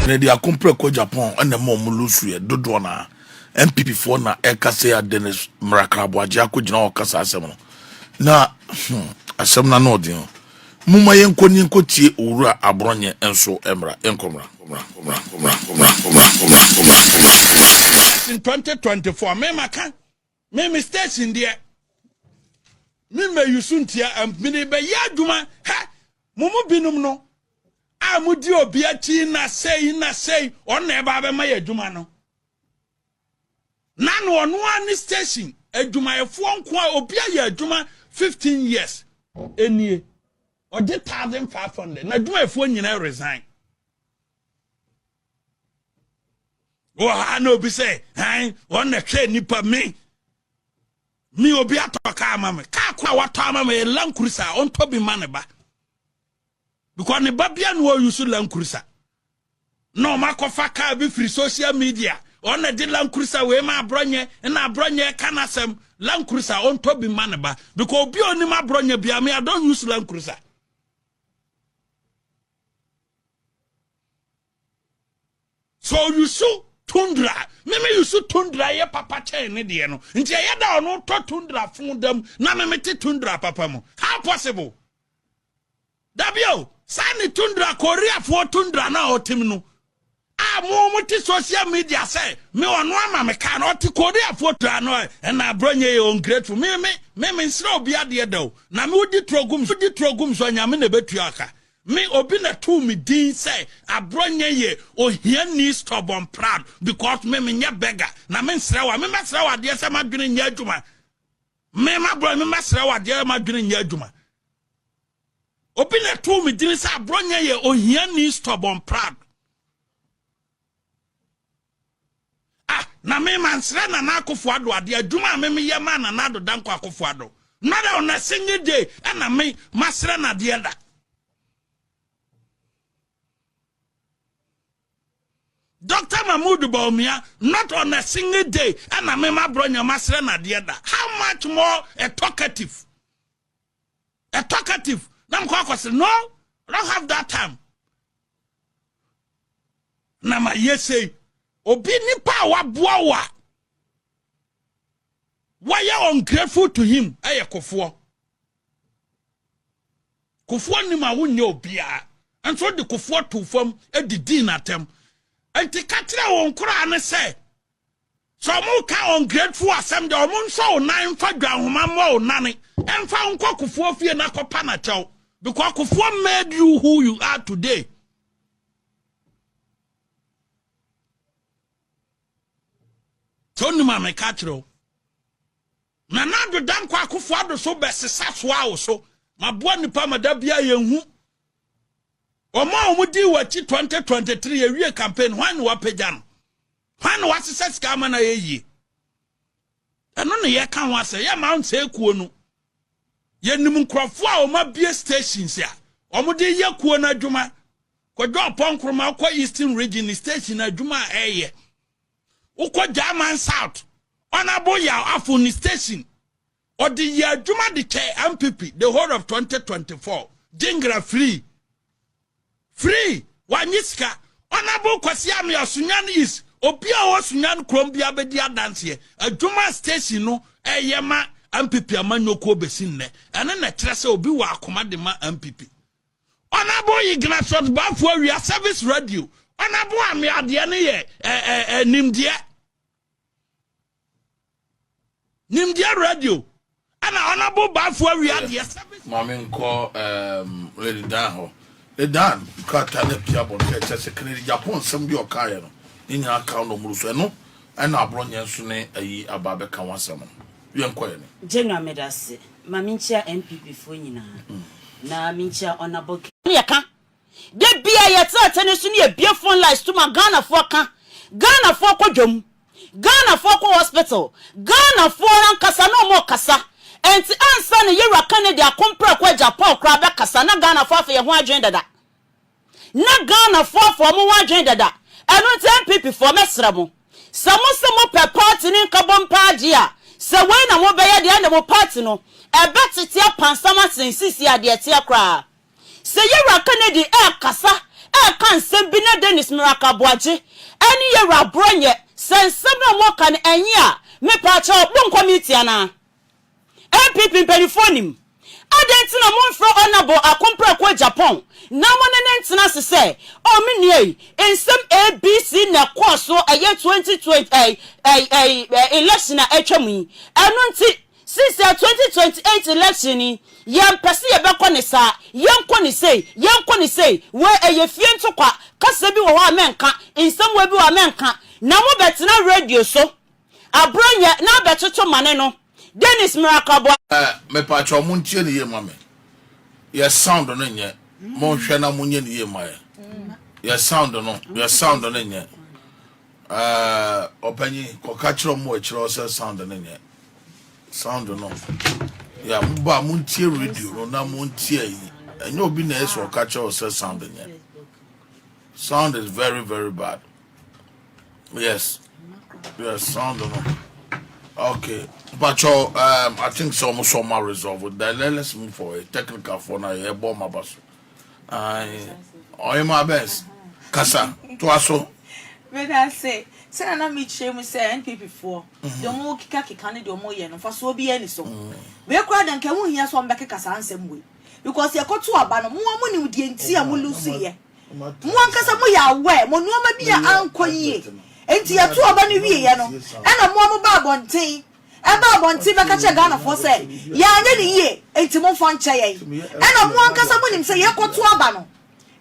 na ɛde akomprɛ kɔ japan ɛna ɛma ɔmo lusu yɛ dodoɔ na npp foɔ na ɛka sɛ a dennis mrakraboagye akɔgyina hɔ kasa asɛm no na hmm, asɛm na no ɔden moma yɛnkɔ ni nkɔ tie owura aborɔnyɛ nso mmra nkɔmmra in 2024 mema ka Me me station deɛ me mɛ yusu ntia mede bɛ yɛ adwuma hɛ mo mu binom no a mo di obi akyi na sɛyi na sɛyi ɔno na ɛba abɛma yɛ adwuma no na no ɔno a ne station adwumayɛfoɔ nko a obi ayɛ adwuma 15 years ɛnie ɔgye 1500 na adwumayɛfoɔ nyinaa resign wɔ ha na obi sɛ ɛn wɔn na hwɛ nipa me me obi atɔ kaa ma me kaa ko a watɔ ama me yɛ land cruiser a ɔntɔ bi ma ne ba because ne ba bia na wɔyi so land cruiser na wɔn akɔfa kaa bi firi social media wɔn na de land cruiser wei ma aborɔnyɛ na aborɔnyɛ ka n'asɛm land cruiser ɔntɔ bi ma ne ba because obi a onim aborɔnyɛ bia me i don use land cruiser. sɛ ɔyusu tundra me me yusu tundra yɛ papa kyɛn ne deɛ no nti ɛyɛ da ɔno tɔ tundra fun dam na me me te tundra papa mu how possible dabio saa ne tundra koreafoɔ tundra na ɔtem no a mo mo te social media sɛ me ɔno ama me kaa na ɔte koreafoɔ tundra no ɛna aborɔ nyɛ yɛ ungrateful me me me me nsrɛ obi adeɛ da o na me wodi turo gum wodi turo gum so anyame na ɛbɛtua aka Me obi na too me din sɛ abrɔnyɛ yɛ ohiani stubborn proud because me me nyɛ beggar na me nsrɛ wa me mɛsrɛ wa adeɛ sɛ ma dwene nyɛ adwuma me ma brɔ me mɛsrɛ wa adeɛ ma dwene nyɛ adwuma obi na too me din sɛ abrɔnyɛ yɛ ohiani stubborn proud Ah, na me mansrɛ Nana Akufo-Addo adeɛ, adwuma a me meyɛ maa Nana Addo Dankwa Akufo-Addo, not a on a single day ɛna me masrɛ no adeɛ da. Doctor Mahmood Bawumia, not on a single day ɛna me ma Bronya masrɛ no adeɛ da. How much more a talkative? A talkative, na mekɔ akɔsrɛ, no, I don't have that time. na ma yɛ sei obi nipa a waboa wo a wayɛ ungrateful to him ɛyɛ kofoɔ kofoɔ nim a wonyɛ obiara nso de kofoɔ to fam didii n'atɛm nti ka kyerɛ wɔn koraa ne sɛ Sɛ ɔmo reka ungrateful asɛm deɛ, ɔmo nsɔ wo nan mfa dwanhoma mmɔ wo nane mfa wo nkɔ kofoɔ fie na kɔpa no kyɛw because kofoɔ made you who you are today. Sɛ wonim a meka kyerɛ wo. Nana Addo Dankwa Akufo Addo so bɛsesa soa wo so. Maboa nnipa ma da bia yɛhu. Wɔn a wɔdi w'akyi 2023 yɛwie campaign hwan na wapagya no? Hwan na wasesa sika ama no ayɛ yie? Ɛno na yɛka ho asɛ yɛ mount sɛ kuo no yɛnim nkurɔfoɔ a wɔn abie stations a wɔde yɛ kuo no adwuma kɔdwa ɔpɔ nkoroma wokɔ eastern region station adwuma a ɛyɛ wokɔ german south ɔnabo yɛ afo ne station Ɔde yɛɛ adwuma de kyɛɛ Ampipi the whole of 2024. Gyengra free. Free! Wannye sika. Honourable Kwasi Amea Sunyani East, obi a ɔwɔ Sunyani kurom biara bɛdi adanseɛ. Adwuma a station no ɛyɛ ma Ampipi amanyɔkuo bɛsi nnɛ, ɛno na ɛkyerɛ sɛ obi wɔ akoma de ma Ampipi. Honourable Ignatius Baffour Awia Service Radio, Honourable Amea deɛ no yɛ ɛ ɛ ɛ nimdeɛ. nimdeɛ radio ɛna ɔnabo baafo awi adeɛ sɛ maame nkɔ um, lady dan hɔ lady dan krataa no apia bɔ no kɛ kyɛ sɛ kennedy japan nsɛm bi ɔkaeɛ no ne nyinaa ka no mmoro so ɛno ɛna aborɔ nyɛ nso ne ayi aba bɛka ho asɛm no yɛnkɔɛ ne gyɛnwa medase ma menkyia mpp foɔ nyinaa mm. na menkyia ɔnabɔ ne yɛka Da bi a yɛtena atɛne so ne yɛbue phone lines to ma Ghanafoɔ ka, Ghanafoɔ kɔ dwam, Ghanafoɔ kɔ hospital, Ghanafoɔ ankasa na wɔrekasa. Ɛnti ansa na Yɛwura Kennedy Akomprako Agya Paul koraa bɛkasa na Ghanafoɔ afa yɛn ho adwene dada. Na Ghanafoɔ afa wɔn ho adwene dada. Ɛno nti NPPfoɔ mɛsrɛ mo, sɛ mo se mo pɛ party ne nkabom paa deɛ a, sɛ wei na mobɛyɛ deɛ ɛnde mo party no ɛbɛtete apansam asen seesei a deɛ ɛteɛ koraa. Sɛ Yewura Kennedy rekasa reka nsɛm bi na Dennis Miracle Aboagye ne Yewura Aborɔ nyɛ sɛ nsɛm no a wɔreka no ɛnye a, mepaakyɛw, monkɔ meeting anaa? NPP mpaninfoɔ nim. Adɛn nti na momfrɛ Honourable Ako Mprako Agyapong na mo ne no ntena ase sɛ, oh me nua yi, nsɛm ABC na ɛkɔɔ so ɛyɛ 2020 ɛyi ɛyi ɛyi ɛyi election a atwam yi, ɛno nti Sister 2028 election yi yɛn pɛ sɛ yɛbɛkɔ no saa yɛn kɔ no sei yɛn kɔ no sei wei ɛyɛ fie ntokwa kasa bi wɔ hɔ a mɛnka nsɛmua bi wɔ a mɛnka na mo bɛtena radio so abronyɛ na abɛtoto mane no Dennis Miracle-Aboa. Eh mepakyɛw mo ntie no yie ma me yɛ sound no nyɛ mo nhwɛ na mo nyɛ no yie ma yɛ yɛ sound no yɛ sound no nyɛ. Ahh ɔpanyin kɔ ka kyerɛ ɔmo wɔ akyire hɔ sɛ sound no nyɛ sound no ya mo ba mo ntie radio no na mo ntie ayi ɛnyɛ obi na ɛsɛ ɔka kyerɛ wɔ sɛ sound nyɛ sound is very very bad yes yes sound no okay mpakyɛ um, I think sɛ ɔmo sɛ ɔmo resolve then let's move forward technical for na yɛbɔ ɔmo aba so. Ae ɔye ma best kasa toa so. Medase sɛ na na mekyerɛ mu sɛ NPP foɔ deɛ ɔmo keka keka ne deɛ ɔmo yɛ no mfasoɔ biaa ni so wei koraa deɛ nka ɛho hia sɛ ɔmo bɛkeka saa nsɛm wei because yɛkɔ to aba no moa mo nim deɛ nti a mo lose yɛ mo ankasa mo yɛ aware mo nnoɔma bi a ankɔ yie nti yɛto aba no wie yɛ no ɛna moa mo ba abɔnten ɛba abɔnten bɛka kyerɛ Ghanafoɔ sɛ yɛanyɛ no yie enti momfa nkyɛ yɛn. Ɛna mo ankasa monim sɛ yɛkɔto aba no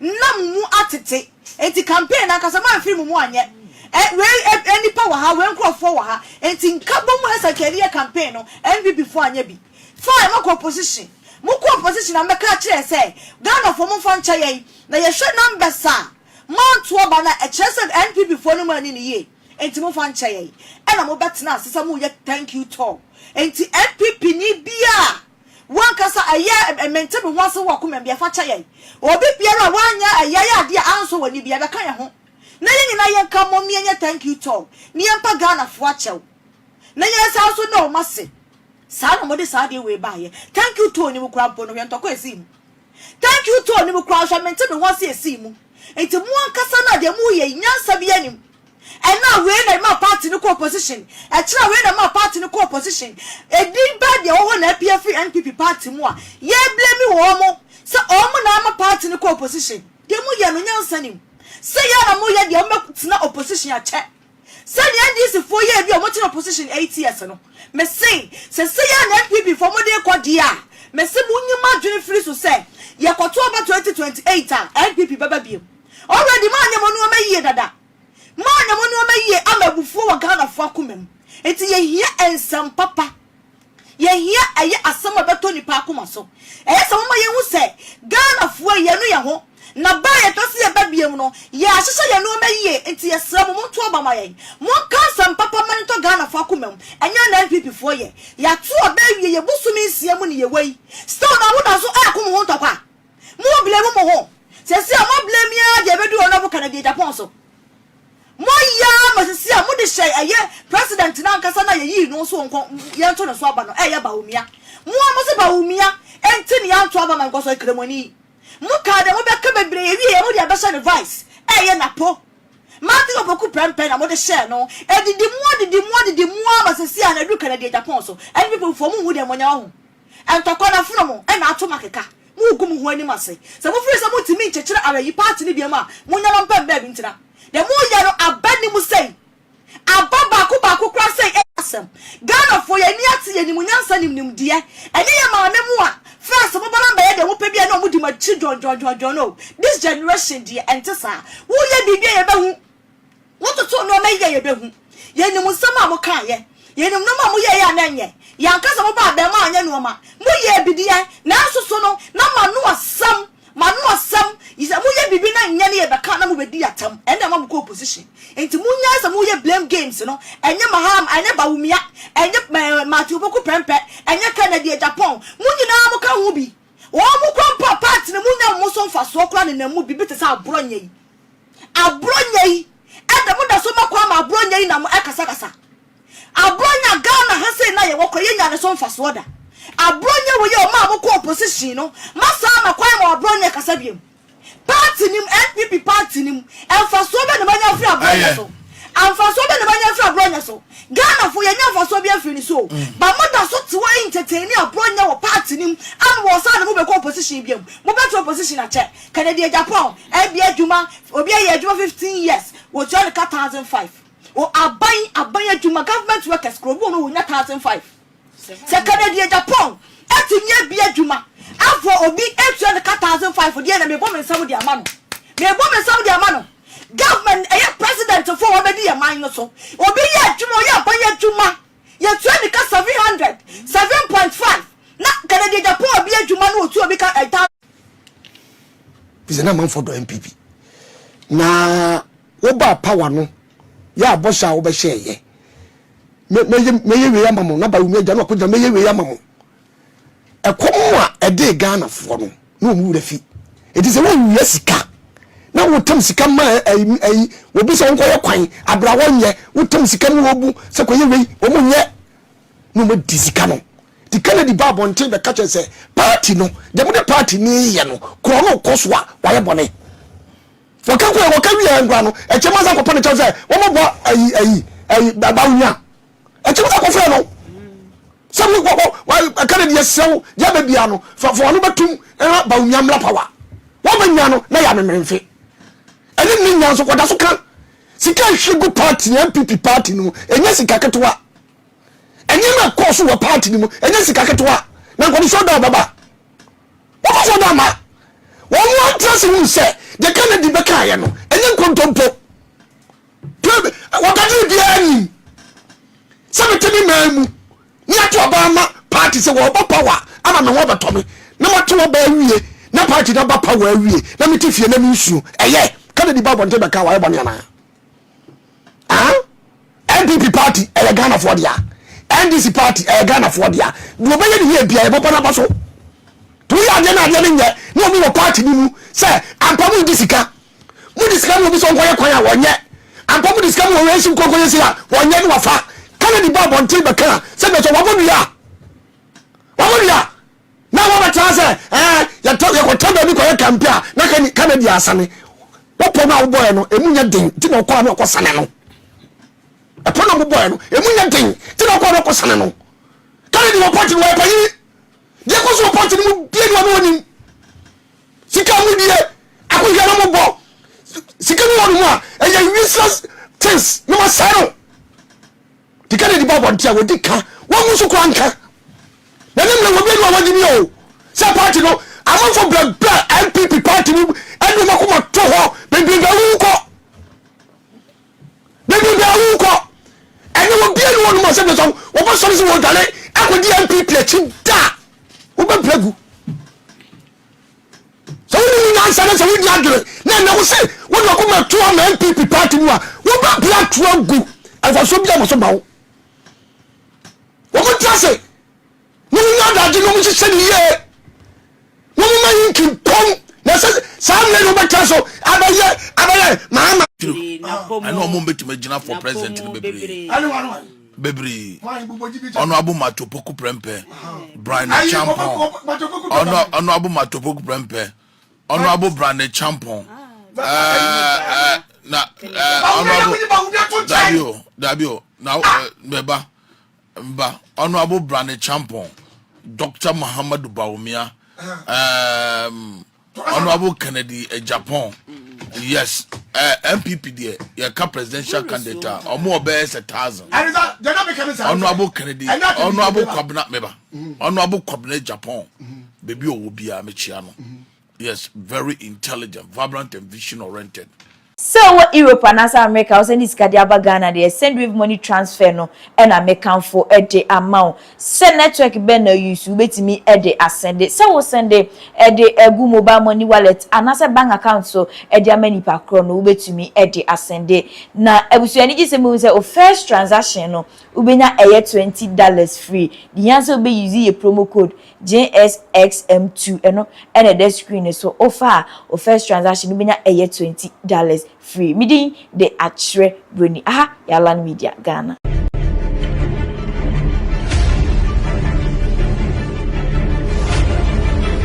na mo mu atete enti campaign no ankasa moamfiri mo mu anyɛ. Ɛ, wei ɛ, nnipa wɔ ha, wei nkorɔfoɔ wɔ ha. Enti nkabom ɛsɛ nka yɛde yɛ campaign no, NPP foɔ anyɛ bi. Fine, moakɔ opposition. Mokɔ opposition na mobɛka akyerɛ yɛn sɛ Ghanafoɔ momfa nkyɛ yɛn. Na yɛhwɛ numbers a moanto aba no a, ɛkyerɛ sɛ NPP foɔ no moanni no yie. Enti momfa nkyɛ yɛn. Ɛna mobɛtena ase sɛ moreyɛ thank you tour. Enti NPP ni biara a wankasa ɛyɛ mente me ho ase wɔ komam deɛ fa kyɛ yɛn. Obi biara a wanyɛ ɛyɛ yɛ adeɛ a ansɔ w'ani biara bɛka yɛn ho. Na yɛn nyinaa yɛnka mmom na yɛnyɛ thank you tour na yɛmpa Ghanafoɔ akyɛw. Na yɛn san nso no mase. Saa na wɔde saa adeɛ wei baeɛ. Thank you tour no mu koraa mpo no hwɛ ntɔkwa a ɛsii mu. Thank you too nim koraa hwɛ mente me ho ase esii mu nti mo ankasa no a deɛ mo yɛ yi nyansa biaa nim ɛna a wei na ɛmaa party no kɔ opposition ɛkyerɛ a wei na ɛmaa party no kɔ opposition ɛdin bɛɛ deɛ ɛwɔ hɔ na apue afiri NPP party mu a yɛ blame wɔn mo sɛ wɔn mo na ama party no kɔ opposition deɛ mo yɛ no nyansa nim sɛ yɛ na mo yɛ deɛ mo bɛ tena opposition akyɛ Sɛ nea NDC foɔ yɛɛ bi a wɔkyere opposition eight years no, mese sesei a na NPP foɔ mode rekɔ deɛ a, mese monyi mo adwene firi so sɛ yɛkɔto aba twenty twenty eight a NPP bɛba biom. Already moanyɛ mo nnoɔma yie dada. Moanyɛ mo nnoɔma yie ama abufuo wɔ Ghanafoɔ akoma mu. Nti yɛhia nsɛm papa. Yɛhia ɛyɛ asɛm a ɛbɛtɔ nnipa akoma so. Ɛyɛ sɛ wɔma yɛhu sɛ Ghanafoɔ yi, yɛanu yɛn ho, na berɛ a yɛpɛ sɛ yɛba biom no, yɛahyehyɛ yɛn nnoɔma yie. Nti yɛsrɛ mo, monto aba ma yɛn. Monka asɛm papa ma no ntɔ Ghanafoɔ akoma mu. Ɛnyɛ na NPPfoɔ yɛ. Yɛato aba awie, yɛ bosome nsia mu na yɛwɔ yi. Still na moda so reko mo ho ntɔkwa. Mo blame mo ho. Seesei a mo blame yi ara deɛ ɛbɛduru Honourable Kennedy Agyapong so. Mo yaa masisi a mode hyɛɛ ɛyɛ president no ankasa no a yɛyii no nso nkɔ yɛnto ne so aba no ɛyɛ Bawumia. Mo a mose Bawumia nti na yɛanto aba ma Nkɔso Akramoni yi. Mo kaa deɛ mobɛka bebree ɛwieɛ mode abɛhyɛ no vice ɛyɛ Napo. Matthew Opoku prɛmpɛ na mode hyɛɛ no. Ɛdidi mo adidi mo adidi mo aa masisi a na ɛduru Kennedy Agyapong so. NPP foɔ monhu deɛ monyɛ ɔho. Ntɔkwa na afena mo na ato mo akeka. Mogu mo ho anim ase. Sɛ mofiri sɛ montumi nkyekyere awayi party no biom a, monnya mo mpam baabi ntena. Deɛ moreyɛ no aba ni mu sei. Aba baako baako koraa sei ɛyɛ asɛm. Ghanafoɔ yɛn ani ate yɛn nim nyansa nim nimdeɛ. Ɛnyɛ yɛn maame mo a first mo ba no bɛyɛ deɛ mopɛ biara na wɔn di mo akyi dwɔndwɔndwɔndwɔn oo. This generation deɛ ɛnte saa. Woyɛ biribi a yɛbɛhu. Wototo nnoɔma yi a yɛbɛhu. Yɛnim nsɛm a mokaeɛ. Yɛnim nnoɔma a moyɛeɛ a na ɛnyɛ. Yɛanka sɛ mobaa bɛn mu a anyɛ nnoɔma. Moyɛɛ bi deɛ, nanso so no, na moano asɛm. Moano asɛm. Sɛ moyɛ biribi na ɛnyɛ no yɛbɛka na mobɛdi atɛm. Ɛnna ɛma mokɔ opposition. Enti monyae sɛ moyɛ blame games no. Ɛnyɛ Mahama, ɛnyɛ Bawumia, ɛnyɛ Matthew Opoku Prempeh, ɛnyɛ Kennedy Agyapong. Mo nyinaa moka ho bi. Wɔn mu kɔ mpo a, parts no mu nnya wɔn so mfasoɔ koraa nenam mu, biribi te sɛ aborɔ nyɛ yi. Aborɔ nyɛ yi, ɛdɛ mo da so ma kwan ma aborɔ nyɛ yi nam ɛkasakasa. Aborɔ nya Ghana ha sei na yɛwɔ kora yɛ nnya ne so mfasoɔ da. Aborɔ nyɛ wei a ɔmaa mo kɔɔ position no, ma saa ma kwan ma aborɔ nyɛ kasa biom. Party no mu, NPP party no mu, mfasoɔ bɛ na manya afiri aborɔ nyɛ so? Amfasoɔ bɛ na manya afiri aborɔ nyɛ so? Ghanafoɔ, yɛnnya mfasoɔ biara mfiri ne so o, but moda so te hɔ entertaini aborɔ nyɛ wɔ party no mu ama wɔsan de mo bɛkɔ opposition biom. Mobɛtra opposition akyɛ? Kɛnɛdeɛ Japan, ɛbea adwuma, obi ayɛ adwuma fifteen years, wɔtua no ka thousand five. Wɔ aban, aban adwuma, government workers, kuro bi wɔ hɔ no wɔnya thousand five. Sɛ Kennedy Agyapong atumi abue adwuma afa obi atua no ka thousand five deɛ na mebɔ me nsam de ama no. Mebɔ me nsam de ama no. Government ɛyɛ president fo a wabɛdi yɛn man no so. Obi yɛ adwuma, ɔyɛ aban adwuma, yɛtua ne ka seven hundred, seven point five na Kennedy Agyapong abue adwuma na ɔtua obi ka thousand. Efisɛ na amanfoɔ dɔ NPP. Na wobaa power no, yɛ abɔhyɛ a wobɛhyɛɛyɛ. mɛyɛ wei ama mo naba wumi agya no akɔgya mɛyɛ wei ama mo ɛkɔm a ɛde ghanafoɔ no na wɔn wura fi ɛti sɛ wɔwia sika na wotam sika ma ayi wɔbi sɛ wɔnkɔyɛ kwan abra wɔnyɛ wotam sika mu wɔbu sɛ kɔyɛ wei wɔn nyɛ na wɔn di sika no ti kennedy ba abɔnten bɛka kyɛ sɛ paati no deɛ mo de paati ne yɛ no korɔ no kɔ so a wɔayɛ bɔne Wɔka kɔɛ, wɔka wie a nkura no, ɛkyɛm asan kɔpɛ no kyɛw sɛ wɔn boa ayi ayi ayi bawo nya. Ɛkyɛm asan kɔfrɛ no sɛ wo wɔ wɔ ɛka no deɛ srɛw deɛ bɛ bia no fa fa wɔn bɛtum ɛha bawo nya mmla pawa. Wɔn bɛ nya no na yɛ amemmeremfe. Ɛne ne nya nso kɔda so ka sika ɛhwie gu party no NPP party no mu ɛnyɛ sika ketewa. Ɛnneɛma ɛkɔɔ so wɔ party no mu ɛnyɛ sika ketewa na nkɔmhyɛ ɔda ɔbɛba. Wofa so no ama wɔn antra ase hunu sɛ deɛ Kennedy bɛkaeɛ no ɛnyɛ nkontompo. Wɔbɛdwene biara nim sɛ mete me man mu ne ato aba ama party sɛ wɔba power ama me ho abɛtɔ me na mato aba awie na party no aba power awie na mete fie na mensuo. Ɛyɛ Kennedy ba abɔnten bɛka wɔayɛ bɔne anaa? ah npp party ɛyɛ ghanafoɔ dea ndc party ɛyɛ ghanafoɔ dea deɛ ɔbɛyɛ ne yie bia yɛbɛbɔ no aba so nti woyɛ adeɛ no adeɛ no nyɛ na ɔmu wɔ party no mu sɛ ampa mu di sika mu di sika mu obi sɛ ɔnkɔyɛ kwan a wɔnyɛ ampa mu di sika mu wɔwɛ nsi nkɔnkɔyɛ si a wɔnyɛ no wafa kane ne ba abɔnten bɛka sɛ bɛsɛ wɔbɔ nua wɔbɔ nua na wɔbɛtaa sɛ ɛɛ yɛtɔ yɛkɔtɔ baabi kɔyɛ kampe a na kani kama di asane wɔpɔ no a wobɔɛ no ɛmu nyɛ den nti na ɔkɔ a na ɔkɔ sane no ɛpɔ no a wobɔɛ no ɛmu nyɛ den nti na ɔkɔ a na ɔkɔ sane no kane di wɔ pɔnte no wɔyɛ panyini deɛ kɔ so wɔ pɔnte no mu bie no ɔno ɔnim sika mu die akohwɛ no mu bɔ sika mu wɔ no mu a ɛyɛ useless things na wɔsɛe no Di kan adi bɔbɔ nti a wɔdi ka, wɔn nso kura nka. Na ne mmerɛ wɔ bi anu a wɔgye ni o, sɛ party no amanfo brɛbrɛ NPP party mu ɛde wɔn akoma to hɔ bebrebe awuwu kɔ. Bebrebe awuwu kɔ. Ɛnɛ wɔ bi anu wɔnom a sɛ bɛsɔn wɔbɛsɔre sɛ wɔdwane akɔdi NPP akyi da a wobɛbrɛ gu. sɛ wonim nyansa na sɛ wonni adwene na ɛnɛ wo se wode ɔkoma atu ama npp party mu a wobɛpia to agu mfasoɔ bi ama so ma wo wɔn tra se na wɔn adagye na wɔn hyehyɛ ne yie na wɔn ma yi nkimpɔn na sɛ saa mmerɛ na wɔbɛtra so abɛyɛ abɛyɛ maama ɛna wɔn bɛtumi agyina for president no bebree bebree ɔno abo mato poku prɛmpɛ brane champɔn ɔno ɔno abo mato poku prɛmpɛ ɔno abo brane champɔn ɛɛ na ɛɛ ɔno abo dabi o dabi o na bɛba ba ɔno abo brane champɔn dr muhammadu bawumia ɛɛm. Um, Honourable Kennedy Agyapong, yes, uh, eh, MPP deɛ yɛka presidential candidate a ɔmo ɔbɛyɛ sɛ thousand. Honourable Kennedy, Honourable Kwabena meba, mm-hmm. Honourable Kwabena Agyapong, mm-hmm. baabi ɔwɔ biara mekyia no. Mm-hmm. Yes, very intelligent, vibrant and vision oriented. Sɛ wowɔ Europe anaasɛ Amerika a, wo sɛnde sika de aba Ghana deɛ, Sendwave money transfer no na me kamfo de ama wo. Sɛ network bɛn na wo use, wobɛtumi de asɛnde. Sɛ wo sɛnde de agu mobile money wallet anaasɛ bank account so de ama nipa korɔ no, wobɛtumi de asɛnde. Na abusua anigye sɛm bɛhu sɛ wo first transaction no, wobɛnya ɛyɛ twenty dollars free. Deɛ hia sɛ wobɛ use yɛ promo code. JSXM2 ɛno na ɛda screen no so wofa a wo first transaction no bɛnya ɛyɛ twenty dollars free me din de Akyerɛ Broni aha yɛ Alan Media Ghana.